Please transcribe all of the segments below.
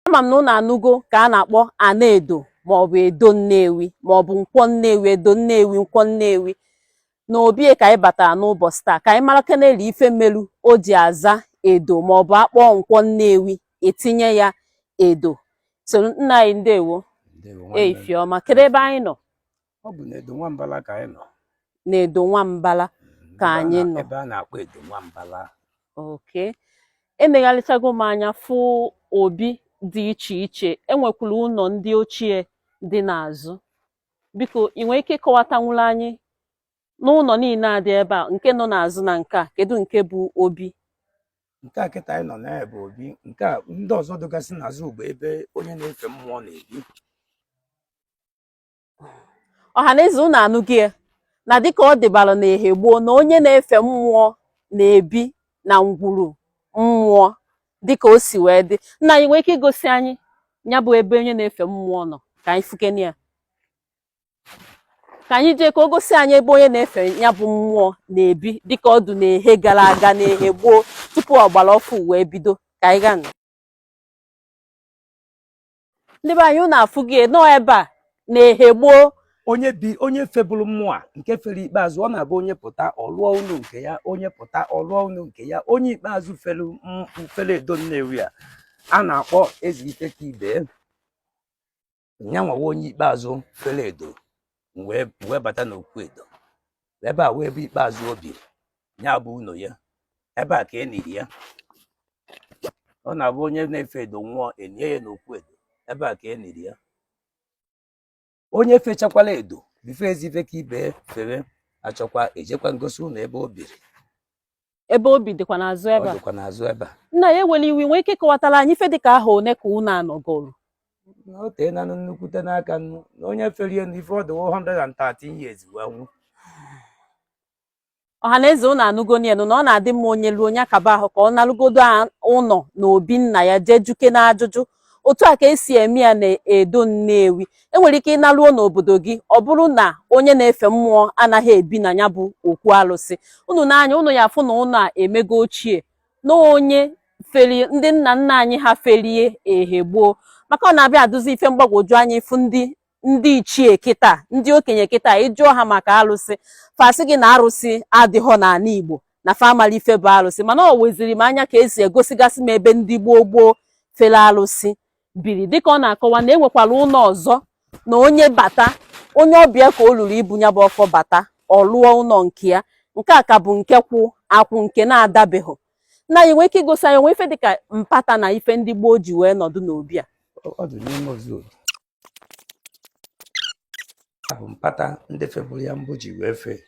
ama m na unu anụgo ka a na-akpọ ana edo maọbụ edo nnewi maọbụ nkwọ nnewi edo nnewi nkwọ nnewi na obie ka anyị batara n'ụbọchị taa ka anyị mara keneli ife melu o ji aza edo maọbụ akpọọ nkwọ nnewi etinye ya edo so nna anyị ndewo ee ifeọma kedu ebe anyị nọ ọ bụ na edo nwambala ka anyị nọ na edo nwambala ka anyị nọ ebe a na-akpọ edo nwambala okay enegharịchago m anya fụ obi dị iche iche enwekwuru ụlọ ndị ochie dị n'azụ biko ị nwere ike ịkọwatanwuru anyị n'ụlọ niile a dị ebe a nke nọ n'azụ na nke a kedu nke bụ obi nke a kịta anyị nọ na ya bụ obi nke a ndị ọzọ dịgasị n'azụ bụ ebe onye na-efe mmụọ na-ebi ọha na eze unu anụgo ya na dịka ọ dịbara na ehe gboo na onye na-efe mmụọ na-ebi na ngwuru mmụọ dịka o si wee dị nna anyị ị nwee ike igosi anyị ya bụ ebe onye na-efe mmụọ nọ ka anyị fukene ya ka anyị jee ka o gosi anyị ebe onye na-efe ya bụ mmụọ na-ebi dịka ọ dụ n'ehe gara aga n'ehe gboo tupu ọgbara ọfụ wee bido ka anyị gaa nụ. ndị be anyị unu afụgo ya nụ ebe a n'ehe gboo onye bi onye febụrụ mmụọ a nke fere ikpeazụ ọ na-abụ onye pụta ọ lụọ ụnọ nke ya onye pụta ọ lụọ ụnọ nke ya onye ikpeazụ fere m- fere edo nnewi a a na-akpọ eze ike ka ibe ya nwawa onye ikpeazụ fere edo wee bata n'okwu edo ebe a bụ ebe ikpeazụ o biri ya bụ ụlọ ya ebe a ka e niri ya ọ na-abụ onye na-efe edo nwụọ e nie ya n'okwu edo ebe a ka e niri ya onye fechakwala edo before ezife ka ibe fere achọkwa ejekwa m gosi unu ebe o biri ebe o bi dịkwa n'azụ ebe a dịkwa n'azụ ebe a nna anyị ewela iwe ị nwee ike kọwatara anyị ife dịka ahọ one ka ụnọ a nọgoro na o tee nanụ nnukwute n'aka nnu na onye ferie na ife ọ dịwo 113 years wee nwụ ọha na eze unu anụgonu ya nụ na ọ na-adị mma onye ruo onye akaba ahụ ka ọ narugodo ụlọ na obi nna ya jee jụkene ajụjụ otu a ka e si eme ya na edo Nnewi enwere ike ịnaruo n'obodo gị ọ bụrụ na onye na-efe mmụọ anaghị ebi na ya bụ okwu alụsị unu n'anya unu ya afụ na ụlọ a emego ochie na onye ferie ndị nna nna anyị ha ferie ehe gboo maka ọ na-abịa adụzi ife mgbagwoju anya ị fụ ndị ndị ichie kịta ndị okenye kịta ị jụọ ha maka alụsị fa sị gị na arụsị adịghọ n'ala Igbo na fa amarọ ife bụ alụsị mana ọ weziri m anya ka esi egosigasị m ebe ndị gboo gboo fere alụsị biri dịka ọ na-akọwa na enwekwara ụlọ ọzọ na onye bata onye ọbịa ka o luru ibu ya bụ ọfọ bata ọ lụọ ụlọ nke ya nke a ka bụ nke kwụ akwụ nke na-adabeghị nna anyị nwee ike igosi anyị o nwee ife dịka mpata na ife ndị gboo ji wee nọdụ n'obi a bụ mpata ndị febụrụ ya mbụ ji wee fee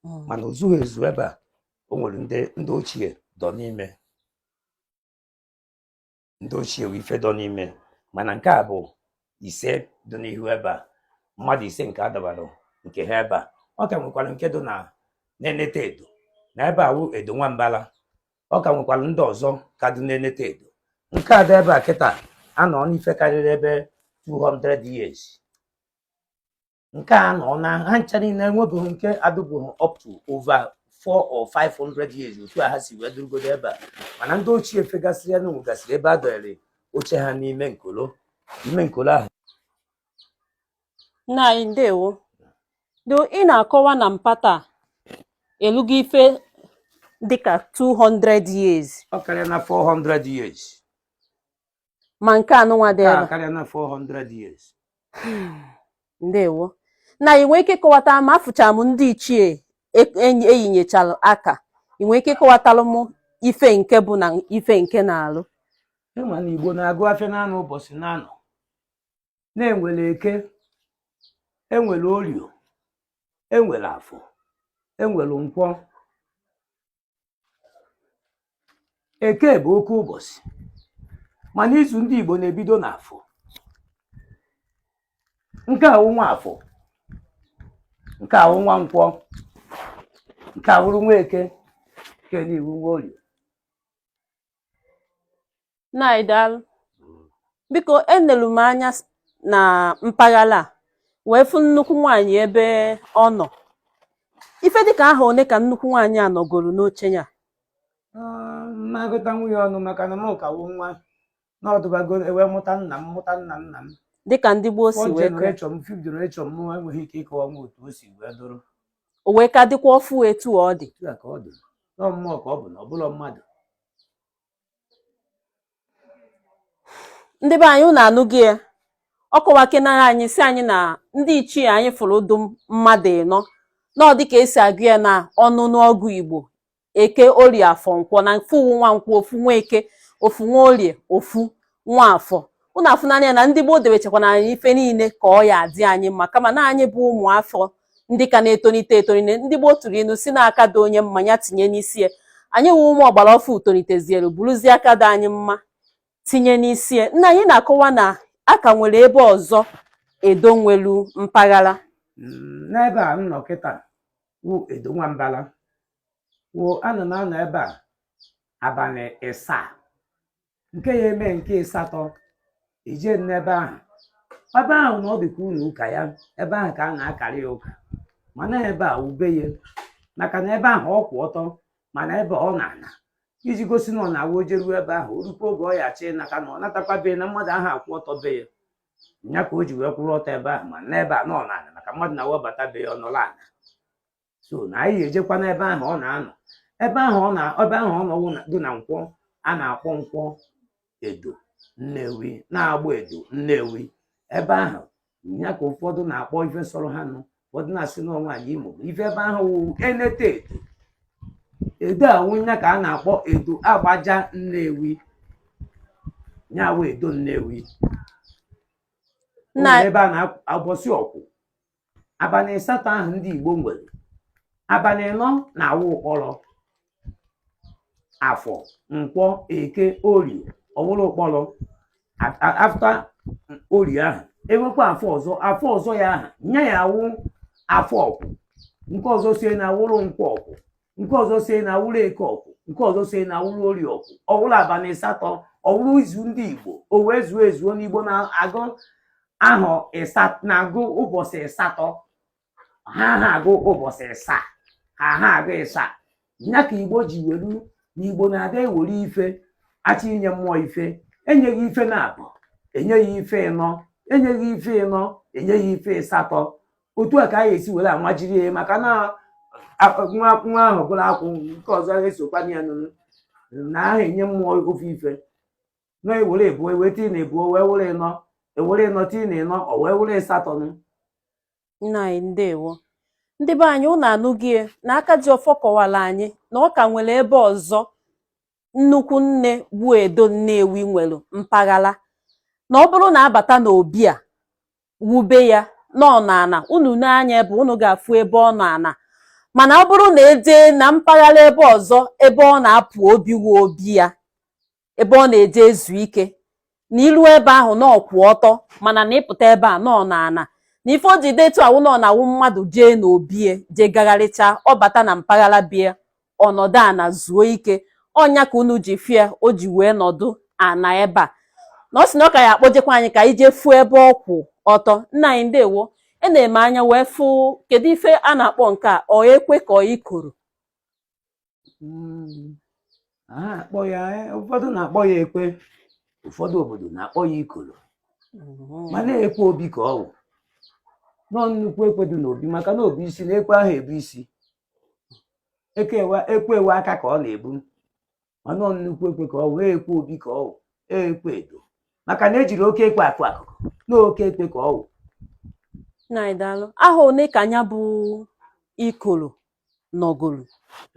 hmm. mana o zughị ezu ebe a o nwere ndị ndị ochie dọ n'ime ndị ochie wee ife dọ n'ime mana nke a bụ ise dị n'ihu ebe a mmadụ ise nke a dọbara nke ha ebe a ọ ka nwekwara nke dị na na-enete edo na ebe a wụ edo nwambala ọ ka nwekwara ndị ọzọ ka dị na-enete edo nke a dị ebe a kịta anọọna ife karịrị ebe 200 years nke a anọọna ha ncha niile enwebeghị nke adịbụghị up to over 4 or 500 years otu a ha si wee dụrụgodo ebe a mana ndị ochie fegasịrị ya na nwegasịrị ebe a dọnyere oche ha n'ime nkolo n'ime nkolo ahụ nna anyị ndewo do ị na-akọwa na mpata a elugo ife dịka 200 years ọ karịana 400 years ma nke anụnwa dị ebe karịana 400 years ndewo nna anyị ị nwee ike kọwata m afụcha m ndị ichie eyinyechalụ aka ị nwee ike kọwatalụ m ife nke bụ na ife nke na-alụ ị ma na igbo na-agụ afịa naanị ụbọchị naanọ na enwere eke enwere orio enwere afọ enwere nkwọ eke bụ oke ụbọchị mana izu ndị igbo na-ebido n'afọ nke a wụ nwa afọ nke a wụ nwa nkwọ nke a wụrụ nwa eke nke nị wụ nwa orio nna anyị daalụ biko enelu m anya s- na mpaghara a wee fụ nnukwu nwaanyị ebe ọ nọ ife dịka ahọ one ka nnukwu nwaanyị a nọgoro n'oche ya m ma-agụtanwu ya ọnụ maka na m ka wụ nwa na ọ dụbago e wee mụta nna m mụta nna nna m dịka ndị gboo si wee kọọ. fourth generation m fifth generation m enweghị ike ịkọwa m otu o si wee dụrụ o wee ka dịkwa ọfụ etu ọ dị Otu a ka ọ dị na ọ mmụọ ka ọ bụ na ọ bụrọ mmadụ ndị be anyị unu anụgo ya ọ kọwakenara anyị sị anyị na ndị ichie anyị fụrụ dụ mmadụ ịnọ na ọ dịka esi agụ ya na ọnụnụ ọgụ igbo eke orie afọ nkwọ na ofu wụ nwa nkwọ ofu nwa eke ofu nwa orie ofu nwa afọ unu afụna ya na ndị gboo debechakwana anyị ife niile ka ọ ya adị anyị mma kama na anyị bụ ụmụ afọ ndị ka na-etonite etonite ndị gboo tụrụ inu sị na aka dị onye mma nya tinye n'isi ya anyị wụ ụmụ ọgbara ọfụ tonitezielu bụrụzie aka dị anyị mma tinye n'isi ya nna anyị na-akọwa na a ka nwere ebe ọzọ edo nwelu mpaghara mm, n'ebe a m nọ kịta wụ edo nwambala wụ ana na-anọ ebe a abalị ịsa nke ya eme nke ịsatọ ije n'ebe ahụ ebe ahụ na ọ dịkwa ụnọ ụka ya ebe ahụ ka a na-akarị ya ụka mana ebe a wụ be ya maka na ebe ahụ ọ kwụ ọtọ mana ebe ọ nọ ana iji gosi na ọ na-awụ o jeruo ebe ahụ o rukwa oge ọ ya achị naka na ọ natakwa be na mmadụ aha akwụ ọtọ be ya nya ka o ji wee kwụrụ ọtọ ebe ahụ ma n'ebe a na ọ nọ ana maka mmadụ na-awụ ọ bata be ya ọ nọrọ ana so na anyị ya ejekwa n'ebe ahụ ọ na-anọ ebe ahụ ọ nọ wụ dị na nkwọ a na-akpọ nkwọ edo nnewi n'agbọ edo nnewi ebe ahụ ya ka ụfọdụ na-akpọ ife sọrọ ha nụ ụfọdụ na-asị na ọ nwanyị imo ife ebe ahụ wụ enete edo edo awụ ya ka a na-akpọ edo agbaja nnewi ya wụ edo nnewi ebe a n'ụbọsị ọkwụ abalị ịsatọ ahụ ndị Igbo nwere abalị ịnọ na-awụ ụkpọrọ afọ nkwọ eke orie ọ wụrụ ụkpọrọ after orie ahụ e nwekwa afọ ọzọ afọ ọzọ ya ahụ nya ya awụ afọ ọkwụ nke ọzọ sie na awụrụ nkwọ ọkwụ nke ọzọ si na awụrụ eke ọkwụ nke ọzọ si na awụrụ orie ọkwụ ọ wụrụ abalị ịsatọ ọ wụrụ izu ndị igbo o wee zuo ezuo na igbo na-agụ ahụ na-agụ ụbọchị ịsatọ ha aha agụ ụbọchị ịsa ha aha agụ ịsa ya ka igbo ji welu na igbo na-adị ewere ife achọ inye mmụọ ife enyeghị ife naabọ enyeghị ife ịnọ enyeghị ife ịnọ enyeghị ife ịsatọ otu a ka anyị esi were amajiri ya maka na nwa nwa ahụ bụrụ akwụ nke ọzọ esokwana ya nụ na aha enye mmụọ ofu ife na e were ịbụọ wee tii na ịbụọ ọ wụrụ ịnọ e were ịnọ tii na ịnọ o wee wụrụ ịsatọ nụ nna anyị ndewo ndị be anyị unu anụghị ya na aka ji ọfọ kọwara anyị na ọ ka nwere ebe ọzọ nnukwu nne bụ edo nnewi nwere mpaghara na ọ bụrụ na a bata n'obi a wụ be ya na ọ nọ ana unu nee anya ebe unu ga-afụ ebe ọ nọ ana mana ọ bụrụ na e jee na mpaghara ebe ọzọ ebe ọ na-apụ obi wụ obi ya ebe ọ na-eje ezu ike na i lu ebe ahụ na ọ kwụ ọtọ mana na ị pụta ebe a na ọ nọ ana na ife o ji dị etu a wụ na ọ na-awụ mmadụ jee n'obie jee gagharịcha ọ bata na mpaghara bie ọ nọdụ ana zuo ike ọ nya ka unu ji fụ ya o ji wee nọdụ ana ebe a na ọ sị na ọ ka ya akpọjekwa anyị ka anyị jee fụ ebe ọ kwụ ọtọ nna anyị ndewo e na-eme anya wee fụ kedu ife a na-akpọ nke a ọ ekwe ka ọ ikoro Mm. a na-akpọ ya eh, ụfọdụ na-akpọ ya ekwe ụfọdụ obodo na-akpọ ya ikolo mana ekwe obi ka ọ wụ na ọ nnukwu ekwe dị n'obi maka na obi isi na ekwe ahụ ebu isi ekwe ekwe aka ka ọ na-ebu mana ọ nnukwu ekwe ka ọ wụ ekwe obi ka ọ wụ ekwe Edo maka na ejiri oke ekwe akụ akụkụ na oke ekwe ka ọ wụ nna anyị daalụ ahọ one ka nya bụ ikoro nọgoro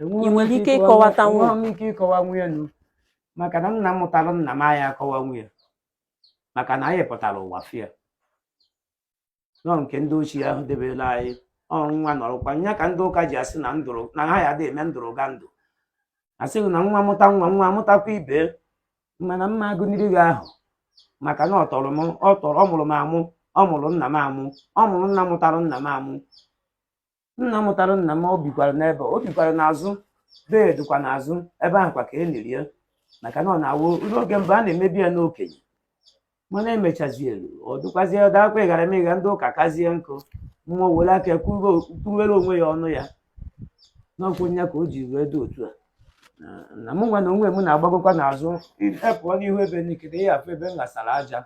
Ị nwere ike ịkọwata nwa? enweghị m ike ịkọwanwu ya nụ maka na nna mụtara nna m aya akọwanwu nya maka na anyị pụtara ụwa fụ ya na ọ nke ndị ochie ahụ debere anyị ọrụ nwa nọrọkwa nya ka ndị ụka ji asị na ndụrụ na ha ya dị eme ndụrụgandụ a sị gị na nwa mụta nwa nwa mụtakwa ibe mana m ma agụniri gị ahọ maka na ọ tọrọ m ọ tọrọ ọ mụrụ m amụ ọ mụrụ nna m amụ ọ mụrụ nna mụtara nna m amụ nna mụtara nna m o bikwara n'ebe o bikwara n'azụ be ya dịkwa n'azụ ebe ahụ kwa ka e liri ya maka na ọ na-awụ n'oge mbụ a na-emebi ya n'okenye mana emechazi elu ọ dịkwazie ọ dakwa ịghara eme ịgha ndị ụka kazie nkụ mmụọ were aka ya kwuru- kwuruwere onwe ya ọnụ ya n'ọkwụ ya ka o ji wee dị otu a Na- na mụ nwa na onwe m na-agbagokwa n'azụ ịpụọ n'ihu ebe nekiri ya afụ ebe m ghasara aja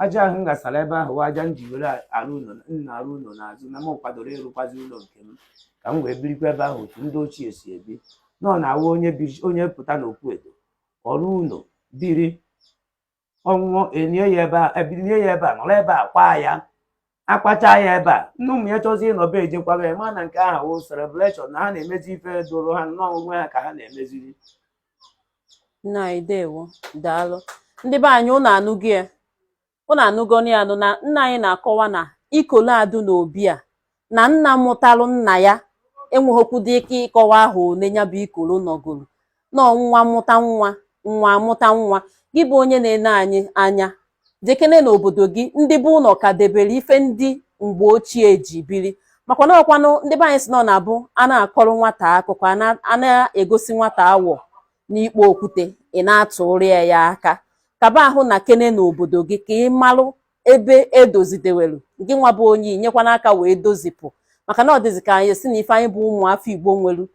aja ahụ m ghasara ebe ahụ wụ aja m ji were arụ ụlọ na-arụ ụlọ n'azụ na m kwadoro ịrụkwazi ụlọ nke m ka m wee birikwa ebe ahụ otu ndị ochie si ebi na ọ na-awụ onye biri onye pụta n'okwu Edo ọ rụọ ụlọ biri ọ nwụọ enie ya ebe a ebilie ya ebe a nọrọ ebe a kwaa ya akwacha ya ebe a nne ụmụ ya chọzi ịnọ be ejekwaba ya mana nke ahụ wụ celebration na ha na-emezi ife doro ha n'onwe ha ka ha na-emeziri nna anyị ndewo daalụ ndị be anyị ụnụ anụgo ya ụnụ anụgoni ya nụ na nna anyị na-akọwa na ikolo a dị n'obi a na nna mụtalụ nna ya enweghịkwudị ike ịkọwa ahọ one nya bụ ikolo nọgoro na nwa mụta nwa nwa amụta nwa gị bụ onye na-ene anyị anya jekene n'obodo gị ndị bụ ụlọ ka debere ife ndị mgbe ochie ji biri maka na ọ kwanụ ndị be anyị sị na ọ na-abụ a na-akọrọ nwata akụkọ a na-egosi nwata awọ n'ikpo okwute ị na-atụrụ ya aka kaba ahụ nakene n'obodo gị ka ị malụ ebe e dozi dewelu gị nwa bụ onye inyekwana aka wee dozipụ maka na ọ dịzị ka anyị sị na ife anyị bụ ụmụafọ Igbo nwelu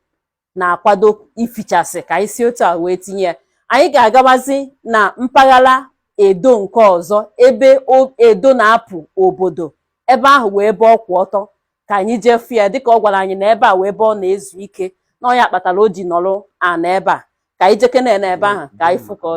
na-akwado ịfụchasị ka anyị si otu a wee tinye ya anyị ga-agabazi na mpaghara edo nke ọzọ ebe edo na-apụ obodo ebe ahụ wụ ebe ọ kwụ ọtọ ka anyị jee fụ ya dịka ọ gwara anyị na ebe a wụ ebe ọ na-ezu ike na ọ ya kpatara o ji nọrọ ana ebe a ka anyị jekene na ebe ahụ ka anyị fụ ka ọ